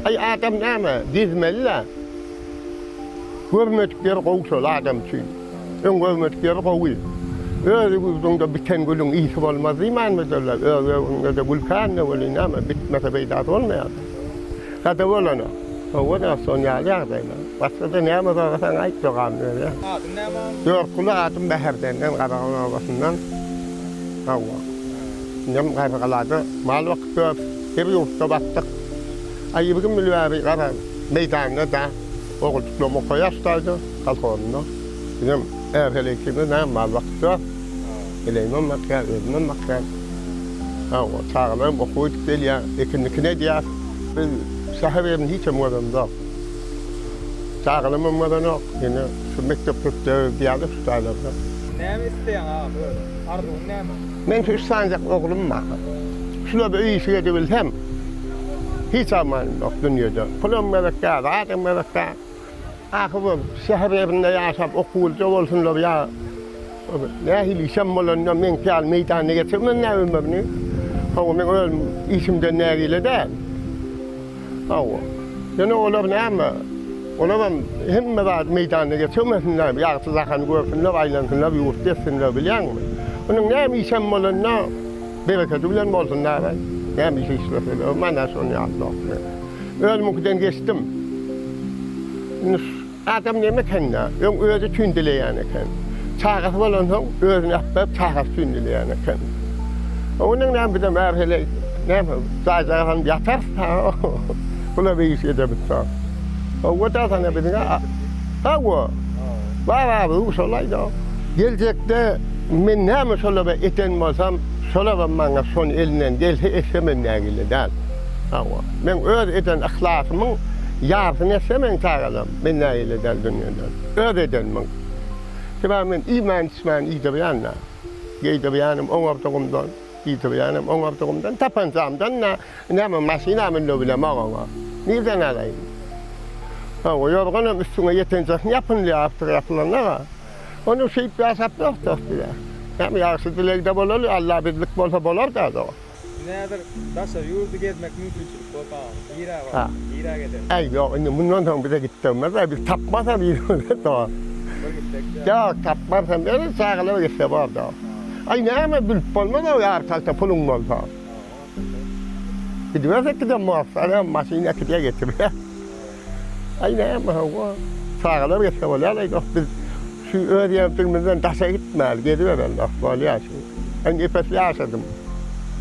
Aý adam näme gezmeli-le. Görmedik ýeri gowy şol adam üçin. Öň görmedik ýeri gowy. Öz ýurduňda biten gülüň ysy bolmaz diýmänmidirler. Öz öwrüňde-de gül kände welin näme bitmese peýdasy bolmaýar. Sada bolana. Hawa da şon ýaly ýagdaýlar. Başgada näme sorasaň aýt dogan öýe. Adyň näme? Ýorkguly adym Bäherdenden Garagan obasyndan. Hawa. Indem Garrygalada mal bakyp ýör. Bir ýurtda batdyk. A ýigrimi ýyl bäri garaň, meýdanda-da ogultuklarym okaýaşdaýdy, kolhozynda. Bizem är-hele ikimiz näme mal bakyp ýör. Heleýimem bakýar, özümem bakýan. Hawa, çagalarym okuwa gidip gelýär, ekin-mikin edýär. Biz şäher ýerini hiçem görenimzok. Çagalymam bolanok. Indi şu mekdep tutýarys diýýärler şu jaýlarda. Näme isleýäň agam özüň? Arzuwyň näme? Men şu üç sanjak oglum bar. Şulary öýüşik edibilsem, hiç armanym ýok dünýede. Pulam gezekkä, zadam gezekkä. Ahyr bir şäher ýerinde ýaşap okuwlyja bolsunlar ýa. Nähili işem bolanda meňki ýaly meýdanda geçirmän näme ömrüni. Hawa, meň özüm işimden nägile däl. Hawa. Ýöne olar näme? Olaram hemme zady meýdanda geçirmesinler, ýagşy jahany görsünler, aýlansynlar, ýurt gezsinler, bilýäňmi? Onuň näme işem bolanda berekedi bilen bolsun dagyn. Näme iş işleseler, maňa şonuň ýaly zat. Özümiňkiden geçdim. Indi Adam näme ekeni-dä, öň özi üçin dileýän eken. Çagasy bolansoň, özüni äpdirip, çagasy üçin dileýän eken. Onuň näme, bizem äbe şeýle näme, jaýjagaz alyp ýatarys-da, gula beýiş edermiskä. Hawa-da, sana biziň a. Hawa. Bababy, şolaý-da. Geljekde men näme şolara eden bolsam, şolar hem maňa şony elinden gelse etsem hem nägile däl. Hawa, men öz eden yhlasymyň ýarysyny etsemeň tagalam, men nägile edäýin dünýeden. Öz edenimiň. Sebäbi men iýmän-içmän iýdirýän-dä. Geýdirýänim oňardygymdan, iýdirýänem oňardygymdan, tapanjamdan-da näme maşyna münde bilemok oňa. Nirden alaýyn? Hawa, ýorganam üstüňe ýetenjesini ýapynylýar absyr ýapylanda-a. Onuň şeýip ýaşap ýok dost diýýär. Näme ýagşy dilegde bolaly, Alla bizlik bolsa bolar-da dost. Näzir daşary ýurdy gezmek mümkinçilik bolsa agam nirä barar nirä gezeriň. Äý ýok indi mundan soň bize gitdirmezler biz tapmasam ýüzümize soň. Bir gitsek dä. Ýok tapmarsam ýöne çagalar gitse bar da. Aý näme bilip bolmaz o ýary kalta puluň bolsa. Gidibersek gidem mossary hem maşyn äkidýär getirýär. Aý näme hawa çagalar gitse bolýar aý dost biz şu öz ýerdigimizden daşa gitmäli gezibereli dost bolýar şu. Indi epes ýaşadym.